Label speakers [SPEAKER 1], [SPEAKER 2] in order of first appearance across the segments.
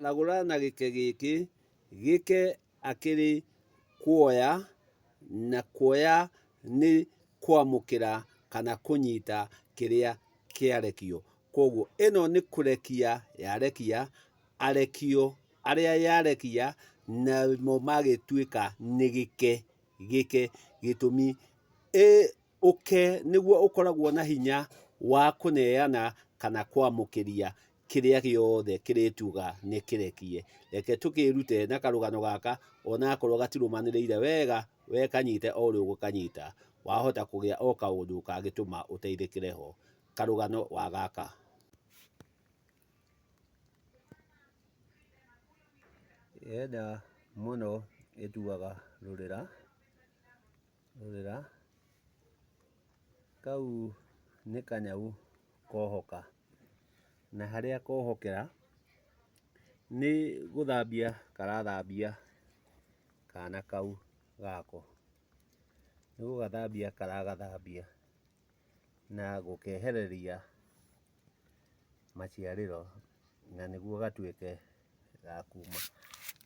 [SPEAKER 1] Nagũra na gĩke gĩkĩ, gĩke akĩrĩ kuoya, na kuoya nĩ kwamũkĩra kana kũnyita kĩrĩa kĩarekio. Kwoguo ĩno nĩ kũrekia yarekia, arekio arĩa yarekia namo magĩtuĩka nĩ gĩke, gĩke gĩtũmi ĩ... ũke nĩguo ũkoragwo na hinya wa kũneana kana kwamũkĩria kĩrĩa gĩothe kĩrĩtuga nĩkĩrekie. Reke tũkĩĩrute na karũgano gaka onakorwo gatirũmanĩrĩire wega, we kanyite o ũrĩa ũgũkanyita, wahota kũgĩa o kaũndũ kangĩtũma ũteithĩkĩre ho. Karũgano wa gaka. Yenda mũno ĩtuaga rũrĩra. Rorera, kau nĩ kanyau kohoka, na harĩa kohokera nĩ gũthambia karathambia kana kau gako. Nĩ gũgathambia karagathambia na gũkehereria maciarĩro na nĩguo gatuĩke ga kuma.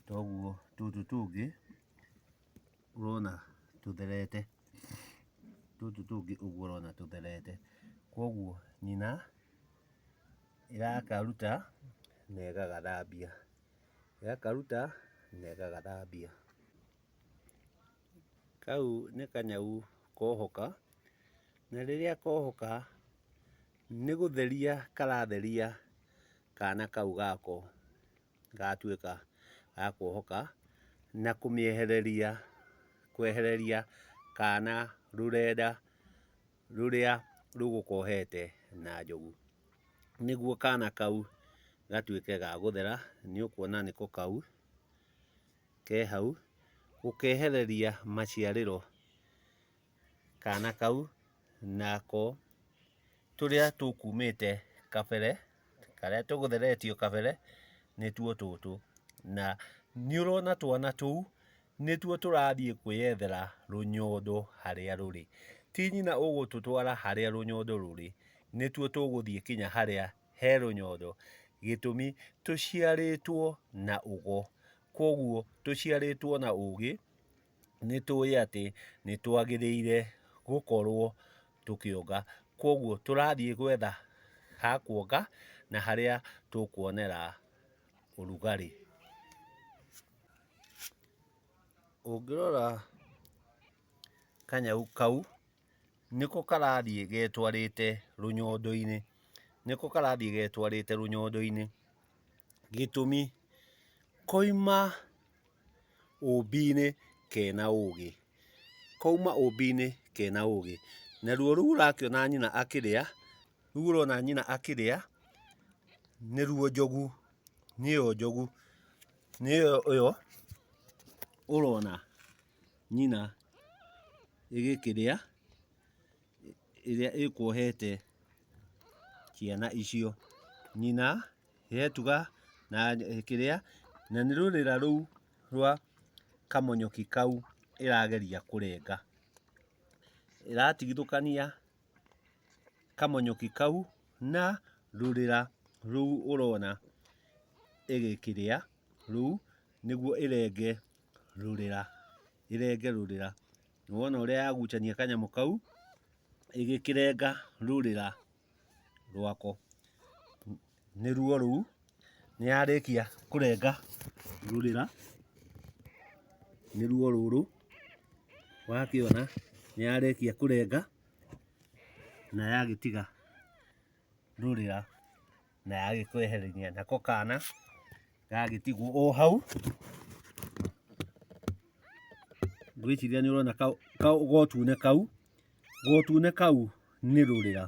[SPEAKER 1] Toguo tũtũ tũngĩ... ũrona tũtherete, tũtũ tũngĩ ũguo ũrona tũtherete. Koguo nyina ĩrakaruta na ĩgagathambia, ĩgakaruta na ĩgagathambia. Kau nĩ kanyau kohoka, na rĩrĩa kohoka nĩ gũtheria karatheria kana kau gako. ĩgatuĩka ya kuohoka na kũmĩehereria, kwehereria kana rũrenda rũrĩa rũgũkohete na njogu, nĩguo kana kau gatuĩke ga gũthera, nĩ ũkuona nĩko kau ke hau, gũkehereria maciarĩro kana kau nako tũrĩa tũkumĩte kabere, karĩa tũgũtheretio kabere nĩtuo tũtũ. Na nĩ ũrona twana tũu nĩtuo tũrathiĩ kwĩyethera rũnyondo harĩa rũrĩ. Ti nyina ũgũtũtwara harĩa rũnyondo rũrĩ, nĩtuo tũgũthiĩ kinya harĩa he rũnyondo, gĩtũmi tũciarĩtwo na ũgo. Kũguo tũciarĩtwo na ũgĩ nĩ tũĩ atĩ nĩ twagĩrĩire gũkorwo tũkĩonga. Kwoguo tũrathiĩ gwetha ha kuonga na harĩa tũkuonera ũrugarĩ. Ũngĩrora kanyau kau... nĩko karathiĩ getwarĩte rũnyondo-inĩ, nĩko karathiĩ getwarĩte rũnyondo-inĩ, gĩtũmi koima ũmbi-inĩ kena ũgĩ, koima ũmbi-inĩ kena ũgĩ, naruo rũu ũrakĩona nyina akĩrĩa, rũu ũrona nyina akĩrĩa, nĩruo njogu, nĩyo njogu, nĩyo ĩyo ũrona nyina ĩgĩkĩrĩa ĩrĩa ĩkuohete ciana icio. Nyina ĩgetuga na kĩrĩa, na nĩ rũrĩra rũu rwa kamonyoki kau ĩrageria kũrenga. Ĩratigithũkania kamonyoki kau na rũrĩra rũu ũrona ĩgĩkĩrĩa rũu nĩguo ĩrenge. rũrĩra, ĩrenge rũrĩra. Nĩwona ũrĩa yagucania kanyamũ kau ĩgĩkĩrenga rũrĩra rwako. Nĩruo rũu, nĩyarĩkia kũrenga rũrĩra, nĩruo rũrũ, wakĩona nĩyarĩkia kũrenga na yagĩtiga. ndurĩra na yagĩkweherania nako kana gagĩtigwo o hau ngwĩciria nĩ ũrona gotune kau gotune kau nĩ rũrĩra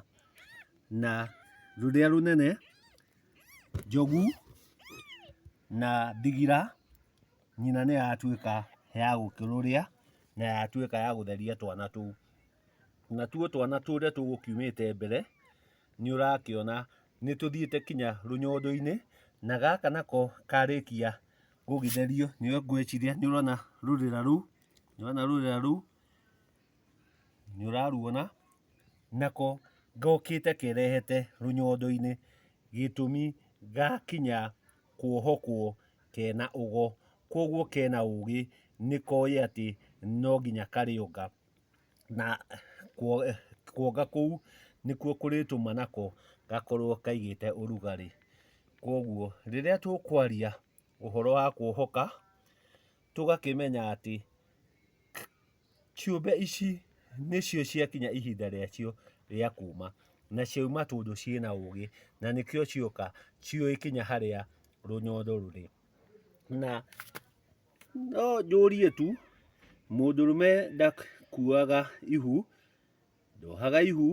[SPEAKER 1] na rũrĩa rũnene njogu na ndigira nyina nĩ yatuĩka ya gũkĩrũrĩa na yatuĩka ya gũtheria twana tũu. Natuo twana tũrĩa tũgũkiumĩte mbere nĩ ũrakĩona nĩ tũthiĩte kinya rũnyondo-inĩ na gaka nako karĩkia gũgĩtherio nĩ ngwĩciria nĩ ũrona rũrĩra rũu, nĩ ũrona rũrĩra rũu, nĩ ũraruona, nako gokĩte kerehete rũnyondo-inĩ gĩtũmi gakinya kuohokwo kena ũgo, kũoguo kena ũgĩ nĩ koĩ atĩ no nginya karĩonga. na kuonga kũu nĩkuo kũrĩtũma nako gakorwo kaigĩte ũrugarĩ. Koguo rĩrĩa tũkwaria ũhoro wa kuohoka, tũgakĩmenya atĩ ciũmbe ici nĩcio ciakinya ihinda rĩacio rĩa kuma, na ciauma tondũ ciĩna ũgĩ, na nĩkĩo cioka ciũĩ kinya harĩa rũnyondo rũrĩ. Na No njũrie tu, mũndũrũme ndakuaga ihu, ndohaga ihu,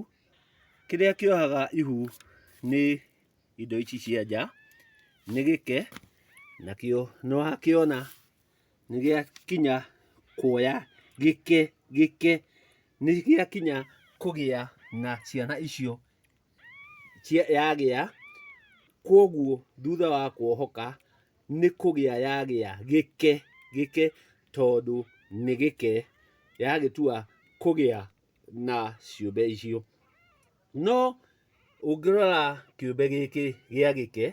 [SPEAKER 1] kĩrĩa kĩohaga ihu nĩ indo ici cia nja, nĩ gĩke, nakĩo nĩ wakĩona nĩ gĩakinya kuoya gĩke, gĩke, nĩ gĩakinya kũgĩa na ciana icio, yagĩa, kũguo thutha wa kuohoka, nĩ kũgĩa yagĩa gĩke gĩke tondũ nĩ gĩke yagĩtua kũgĩa na ciũmbe icio. No ũngĩrora kĩũmbe gĩkĩ gĩa gĩke,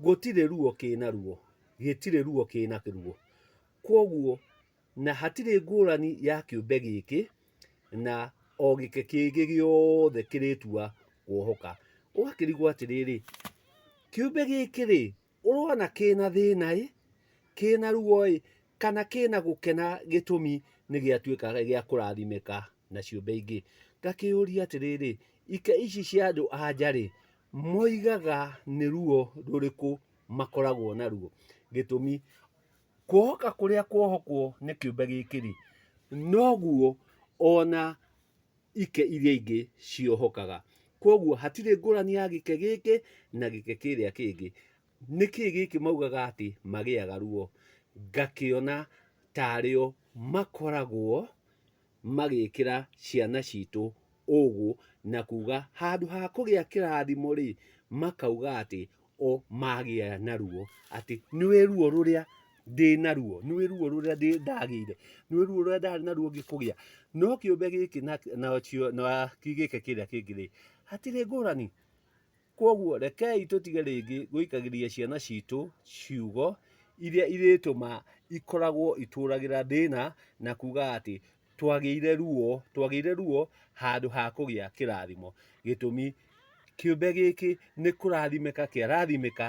[SPEAKER 1] gũtirĩ ruo kĩna ruo, gĩtirĩ ruo kĩna ruo. Kwoguo Na hatirĩ ngũrani ya kĩũmbe gĩkĩ na o gĩke kĩngĩ gĩothe kĩrĩtua kuohoka. Ũgakĩrigwo atĩrĩrĩ, kĩũmbe gĩkĩ-rĩ, ũrona kĩna thĩna-ĩ, kĩna ruo-ĩ, kana kĩna gũkena gĩtũmi nĩgĩatuĩka gĩa kũrathimĩka na ciũmbe ingĩ? Ngakĩyũria atĩrĩrĩ, ika ici cia andũ anja-rĩ, moigaga nĩ ruo rũrĩkũ makoragwo naruo? Gĩtũmi. Kuohoka kũrĩa kuohokwo nĩ kĩũmbe gĩkĩ-rĩ, noguo ona ike iria ingĩ ciohokaga. Koguo hatirĩ ngũrani ya gĩke gĩkĩ na gĩke kĩrĩa kĩngĩ. Nĩkĩ gĩkĩ maugaga atĩ magĩaga ruo? Ngakĩona tarĩ o makoragwo... magĩkĩra ciana citũ ũgũ na kuga handũ ha kũgĩa kĩrathimo rĩ, makauga atĩ o magĩa naruo, atĩ nĩwĩ ruo rũrĩa ndĩ naruo, nĩwĩ ruo rũrĩa ndĩ ndagĩire, nĩwĩ ruo rũrĩa ndarĩ naruo ngĩkũgĩa. No kĩũmbe gĩkĩ na na kĩũmbe gĩkĩ kĩrĩa kĩngĩ rĩ, hatirĩ ngũrani. Kwoguo rekei tũtige rĩngĩ gũikagĩria ciana citũ ciugo iria irĩtũma ikoragwo itũragĩra thĩna na kuga atĩ twagĩire ruo, twagĩire ruo handũ ha kũgĩa kĩrathimo. Gĩtũmi, kĩũmbe gĩkĩ nĩ kũrathimĩka kĩarathimĩka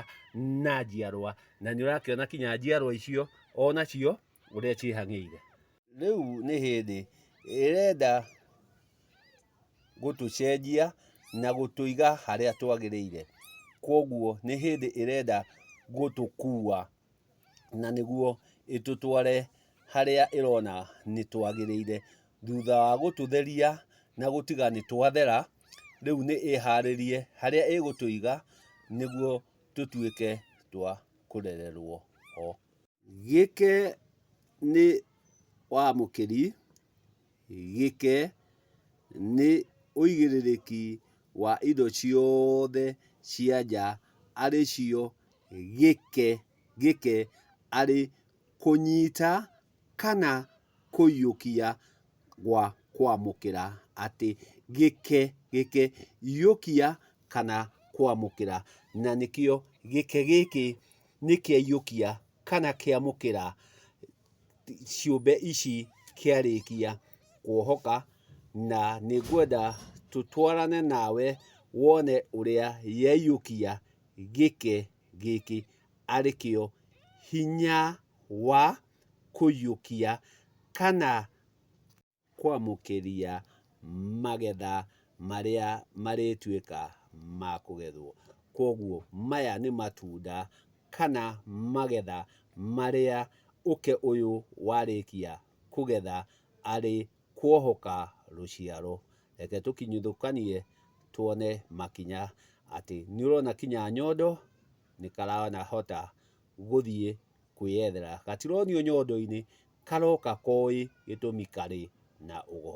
[SPEAKER 1] na njiarwa, na nĩ ũrakĩona kinya njiarwa icio o nacio ũrĩa ciĩhang'ĩire. Rĩu nĩ hĩndĩ ĩrenda gũtũcenjia na gũtũiga harĩa twagĩrĩire. Kwoguo nĩ hĩndĩ ĩrenda gũtũkua na nĩguo ĩtũtware harĩa ĩrona nĩ twagĩrĩire. Thutha wa gũtũtheria na gũtiga nĩ twathera, rĩu nĩ ĩharĩrie harĩa ĩgũtũiga nĩguo tũtuĩke twa kũrererwo ho. Gĩke nĩ wa mũkĩri, gĩke nĩ ũigĩrĩrĩki wa indo ciothe cia nja arĩ cio gĩke, gĩke arĩ kũnyita kana kũiyũkia gwa kwamũkĩra, atĩ gĩke, gĩke, iyũkia kana kwamũkĩra, na nĩkĩo gĩke gĩkĩ nĩ kĩaiyũkia kana kĩamũkĩra ciũmbe ici kĩarĩkia kuohoka, na nĩ ngwenda tũtwarane nawe wone ũrĩa yaiyũkia gĩke gĩkĩ, arĩ kĩo hinya wa... kũiyũkia kana kwamũkĩria magetha marĩa marĩtuĩka ma kũgethwo. Kũguo maya nĩ matunda kana magetha marĩa ũkĩ ũyũ warĩkia kũgetha arĩ kuohoka rũciaro. Reke tũkinyithũkanie tuone makinya atĩ nĩũrona kinya nyondo nĩkarahota gũthiĩ kwĩyethera. Gatironio nyondo-inĩ karoka koĩ gĩtũmi karĩ na ũgo.